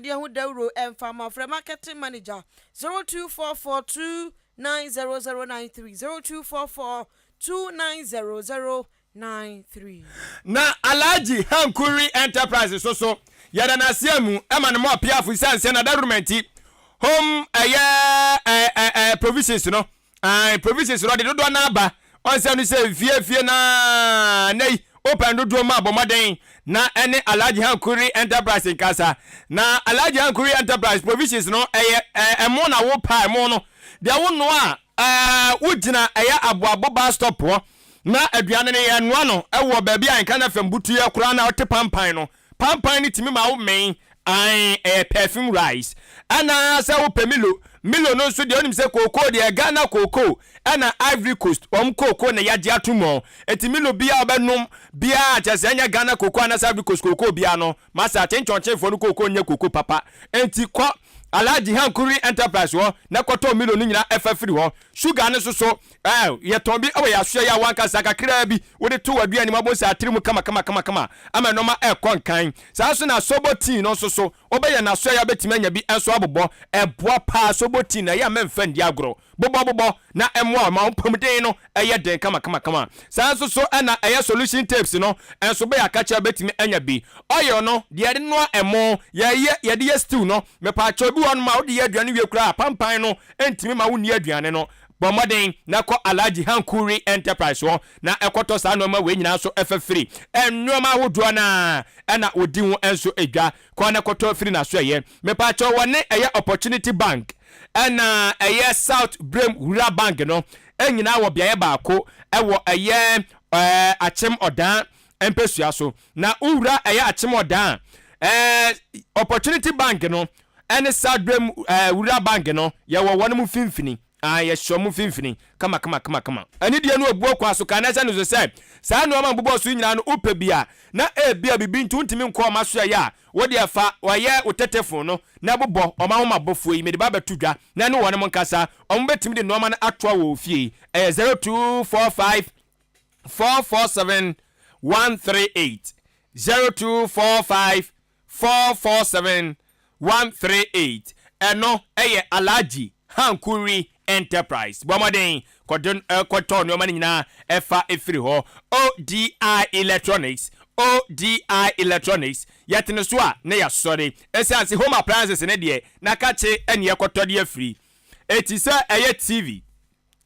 Deɛ ho dawuro ɛmfa ma frɛ marketing manager zero two four four two nine zero zero nine three zero two four four two nine zero zero nine three. Na Alhaji Hankuri Enterprises so so yɛda no ase amu ma no mɔɔ piafo esiane sɛ n'adawuruma nti home ɛyɛ ɛɛ ɛɛ provisions no Ae provisions no ɔde dodoɔ no ara ba ɔnsɛ no sɛ fie fie no ara nɛ yi opɛn dodoɔ mu a bɔ mmɔden na ɛne Alhaji Hankuri Enterprise nkasa na Alhaji Hankuri Enterprise provisions no ɛyɛ ɛmo na wo pɛ a ɛmo no deɛ wo noa a wo gyina ɛyɛ aboabo bus stop hɔ na aduane no yɛ noa no ɛwɔ baabi a nka na fam butuiɛ koraa na ɔte pampan no Pampan no tumi ma wo men, ae, ɛyɛ perfume rice. Ɛna sɛ wo pɛ Milo, Milo no nso deɛ wonim sɛ kookoo deɛ Ghana kookoo ɛna Ivory Coast wɔn kookoo na yɛagye ato mu. Ɛti Milo biaa wobɛnom biaa kyerɛ sɛ ɛnyɛ Ghana kookoo anaa sɛ Ivory Coast kookoo biaa no masa te nkyɔnkyenfoɔ no kookoo nyɛ kookoo papa. Ɛnti kɔ Alhaji Hankuri Enterprise hɔ na kɔtɔ Milo no nyinaa ɛfa firi hɔ. Sugar no nso so Ɛɛ, yɛ tɔn bi wɔ yɛ asoɛeɛ a w'ankasa kakraa bi wode to w'aduane mu abonsa atiri mu kamakamakama ama nnoɔma ɛrekɔ nkan. Saa ara nso na Sobo Tea no nso so wobɛyɛ no asoɛeɛ a wobɛtumi anya bi nso abobɔ. Ɛboa pa ara, Sobo Tea no ɛyɛ a mɛmfa nni agorɔ. Bobɔ bobɔ na ɛmmoa wo ma wo mpɔmuden no yɛ den kamakamakama. Saa ara nso so na ɛyɛ Solution Tapes no nso bɛyɛ akakyɛ a wobɛtumi anya bi. Oil no, deɛ yɛde noa ɛmo, yɛyɛ, yɛde yɛ stew no, mepaakyɛw bi wɔ hɔnom a wode yɛ aduane wie koraa a, pampan no ntumi ma wonni aduane no. Bɔ mmɔden na kɔ Alhaji Hankuri Enterprise hɔ na kɔtɔ saa nnoɔma wei nyinaa nso fa firi. Nnoɔma ahodoɔ no ara na wɔdi ho nso dwa. Kɔ na kɔtɔ firi n'asoɛeɛ. Mepaakyɛw wɔne ɛyɛ Opportunity Bank ɛna ɛyɛ South Biram Rural Bank no nyinaa wɔ beaeɛ baako wɔ ɛyɛ Akyem Odaa mpɛsua so. Na wo wura ɛyɛ akyemɔdan a, ɛɛ Opportunity Bank no ɛne Sadwe ɛɛ Wura Bank no yɛwɔ wɔn mo finfini, aah yɛhyɛ wɔn mo finfini kama kama kama kama. Ɛne deɛ no obuo kwan so ka na ɛhyɛ no nso sɛ saa nnoɔma a mobobɔ so yi nyinaa no wopɛ bi a na ebia bibi nti wontumi nkɔ wɔn aso ɛyɛ a wo deɛ fa ɛyɛ wo tetefon no na bobɔ wɔn ahomabɔfoɔ yi mede ba bɛto dwa na ɛne wɔn mo nkasa wɔn bɛtumi de nnoɔma no atoa wɔ wo fie ɛyɛ zero two four five four four seven one three eight zero two four five four four seven one three eight ɛno ɛyɛ alagye hankuri enterprise bɔ mmɔden kɔdo eh, kɔtɔ nneɛma no nyinaa ɛfa efiri hɔ odi electronics odi electronics yɛtene so a na yɛasɔre ɛsiane sɛ home appliances ne deɛ na kakye ɛne ɛkɔtɔ de afiri eti sɛ ɛyɛ tv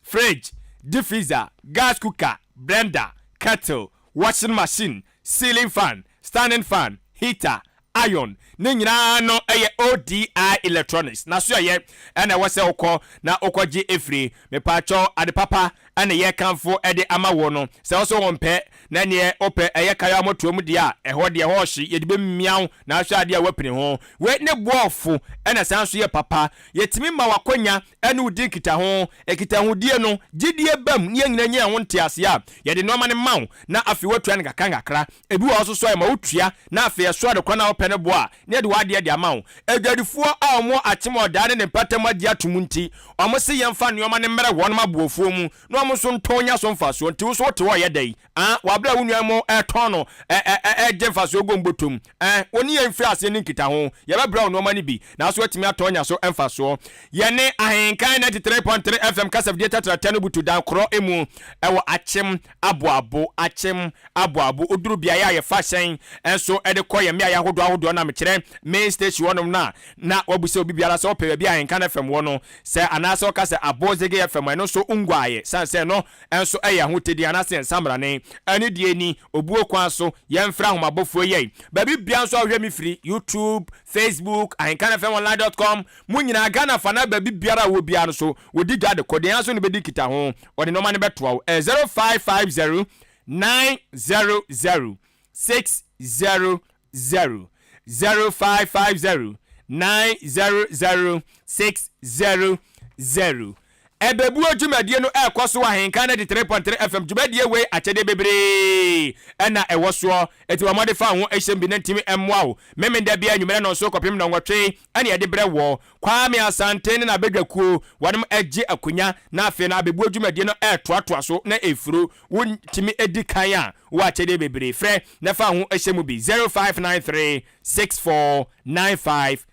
fridge, deep freezer, gas cooker, blender, kettle, washing machine, ceiling fan, standing fan, heater, iron, ne nyinaa no yɛ ODI electronics. N'asoɛyɛ na ɛwɔ sɛ wokɔ na wokɔgye firi. Mepaakyɛw, ade papa na ɛyɛ kamfo de ama wo no. Sɛ wo so wompɛ, na neɛ wopɛ ɛyɛ kayo a motoa mu deɛ a, ɛhɔ deɛ ɛhɔ ɔhye, yɛde bɛmia wo na ahwɛ adeɛ a woapini ho. Wei ne boɔfo na ɛsan nso yɛ papa. Yɛtumi ma w'akwanya ɛne wo di nkitaho. Nkitahodie no, gyedie bam ne yɛn nyinaa nya ɛho nteaseɛ a, yɛde nnoɔma no ma wo na afei woatua no nkakrankakra. Ebi wɔ hɔ nso so a, yɛma wotua na afei ɛso a, nokorɛ no a wopɛ no boa a, na yɛde w'adeɛ de ama wo. Adwadifoɔ a wɔwɔ Akyemɔdaa ne ne mpatamu agye atom nti, wɔn se yɛmfa nnoɔma no mmrɛ wɔn aboɔfoɔ mu na wɔn nso ntɔn nya so mfasoɔ. Nti wo nso wote hɔ a, ɛyɛ dɛn? Aah, wɔ aberɛ a wo nuanom retɔn no, ɛɛ, ɛɛ, ɛɛ, gye mfasoɔ gom bɔtɔ mu. Ɛ, wo ne yɛn mfiri aseɛ nni nkitaho. Yɛbɛbrɛ wo nnoɔma no bi, nanso woatumi atɔ anya so mfasoɔ. Yɛne Ahenkan 93.3 FM kasafidie tɛtrɛtɛ no butu dan korɔ mu wɔ Akyem Aboabo. Akyem Aboabo. Woduru beaeɛ a yɛfa hyɛn nso de kɔ yɛn mmeaeɛ ahodoɔ ahodoɔ no a, mekyerɛ main station hɔnom no a, na woabisa obi biara sɛ wopɛ baabi a Ahenkan FM wɔ no sɛ anaasɛ ɔka sɛ Abosege FM a, ɛno nso wonguaeɛ, ɛsiane sɛ ɛno nso yɛ Ahotedin anaasɛ yɛn nsamrane. Anidie ni. Obuo kwan so yɛmfrɛ ahomabofoɔ yei. Baabi biara nso a wohwɛ me firi, YouTube, Facebook, ahenkanfmonline dot com, mo nyinaa, Ghana fa anaa baabi biara a wowɔ biara no so, wɔdi dwa de kɔ. Deɛ ara so na wobɛdi nkitaho. Wɔde nnoɔma no bɛtoa wo. Ɛyɛ zero five five zero nine zero zero six zero zero zero five five zero nine zero zero six zero zero. Ɛbɛbuo dwumadie no ɛrekɔ so wɔ ahenka 93.3 FM dwumadie wei akyɛdeɛ bebree na ɛwɔ soɔ ɛti bɔ mmɔde fa wo ho ɛhyɛm bi na ntimi mmoa wo memenda bia anwummerɛ nɔnso kɔpem nɔnwɔtwe ɛne ɛde berɛ wɔ Kwame Asante ne n'abadwakuo wɔnom agye akonya na afei no abɛbuo dwumadie no ɛretoatoa so na ɛfuro Wontumi di kan a, wɔ akyɛdeɛ bebree. Frɛ na fa ho hyɛ mu bi 0593 64 9595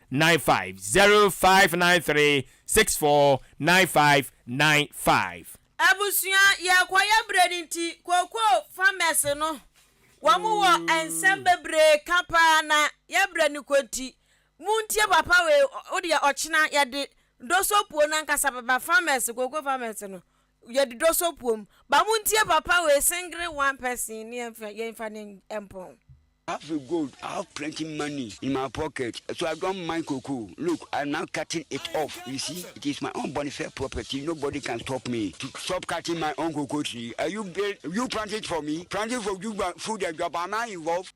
0593 64 9595. Abusua yɛkɔyɛ brɛ no nti kokoo farmers no wɔn wɔ nsɛm bebree ka paa na yɛ brɛ no kɔ nti montie papa wei wodeɛ ɔkyena yɛde dosopuo no ankasa bɛba farmers kokoo farmers no Yɛ de dɔ sɔ puom. Ba mo ntie papa wei singre one person ne yɛnfa yɛnfa ne mpɔn. Afri gold I have plenty money in my pocket so I don't mind koko look I now cutting it off you see it is my own bonfire property nobody can stop me to stop cutting my own cocoa tree are you build you plant it for me planting for food adwabama involve.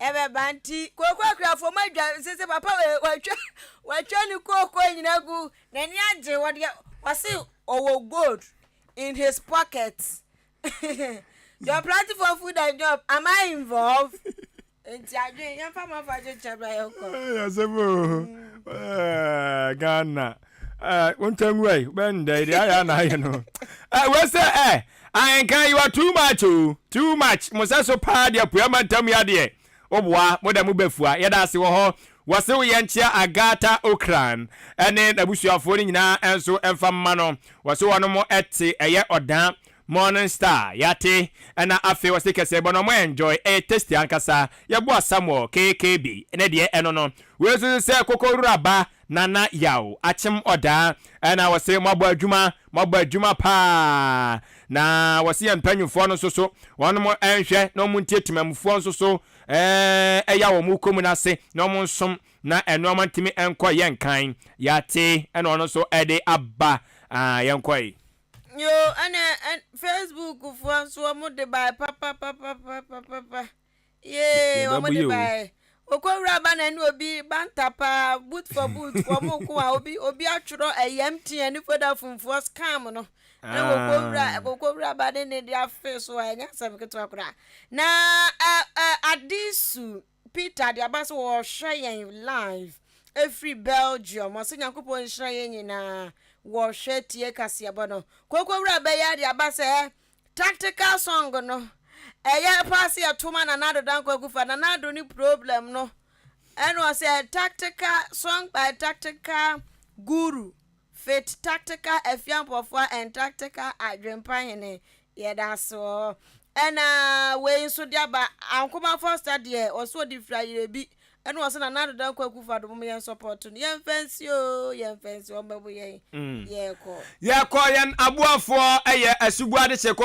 Ɛbɛba nti kooko akuafoɔ mu adwa nse sɛ papa wei watwa watwa ne kooko nyina gu n'ani agye wɔ deɛ wɔse ɔwɔ gold in his pocket John Platefoɔ food and job am I involved nti adwene yɛmfa ma fa kyekyɛ bra yɛkɔ asɛm o Ghana wontanwuai bɛndɛ deɛ ayɛ na ayɛ no wei sɛ Ahenkan you are too much oo too much mo sɛso paa de apua mantam yi adeɛ woboa mo da mo bɛfua yɛda ase wɔ hɔ wɔse wo yɛnkyea Agatha Ocran ɛne nabusuafoɔ no nyinaa ɛnso ɛmfa mma no wɔse wɔn mo ɛte ɛyɛ ɔda Morning Star yɛate ɛna afei wɔse kɛsɛbɔ no ɔmo enjoy ɛyɛ tasty ankasa yɛboa Samuel KKB ne deɛ ɛno no wei nso sɛ koko rura ba Nana yaw akyem ɔdaa ɛna wɔse moabɔ adwuma moabɔ adwuma paa na wɔse yɛn mpanyinfoɔ no nso so wɔn mo nhwɛ na wɔn ntie temamufoɔ nso so ɛɛ ɛya wɔn mo kɔ mu no ase na wɔn nsom na ɛnoɔma ntimi nkɔ yɛ nkan yate ɛna ɔno nso ɛde aba aa yɛn kɔe. Yoo ɛne Facebook foɔ nso wɔn de bae papapapapapapa. yee wɔn de baɛ okowura ba na ɛne obi banta paa boot for boot wɔn ko a obi obi atwerɛ ɛyɛm tia ne foda funfoɔ scam no ɛna ah. okowura okowura ba ne ne de afe so a ɛnyɛ asɛm ketewa koraa na ɛ ɛ adisu peter de aba so wɔhwɛ yɛn live efiri belgium ɔsɛ nyankopɔn nhyira yɛn nyinaa wɔhwɛ tie kaseɛbɔ no kokowura bɛyɛ de aba sɛ. Tactical song no ɛyɛ paa sɛ yɛto ma Nana Addo Dankwa Akufa. Nana Addo ne problem no ɛna ɔsɛ tactical song by tactical guru fit tactical Afiampɔfoɔ and tactical Adwempa Hene. Yɛda ase wɔ hɔ. Ɛna wei nso de aba Ankomafoɔ Ɔsta deɛ ɔsɛ ɔde firi Ayerɛbi Ɛna ɔsɛ na na deda nkwa kufo adom yɛn sɔpɔto no yɛn fɛnsi o yɛn fɛnsi wɔn bɛbo yɛn mm. yɛkɔ. Yɛkɔ yɛn aboafoɔ ɛyɛ asuguade seko.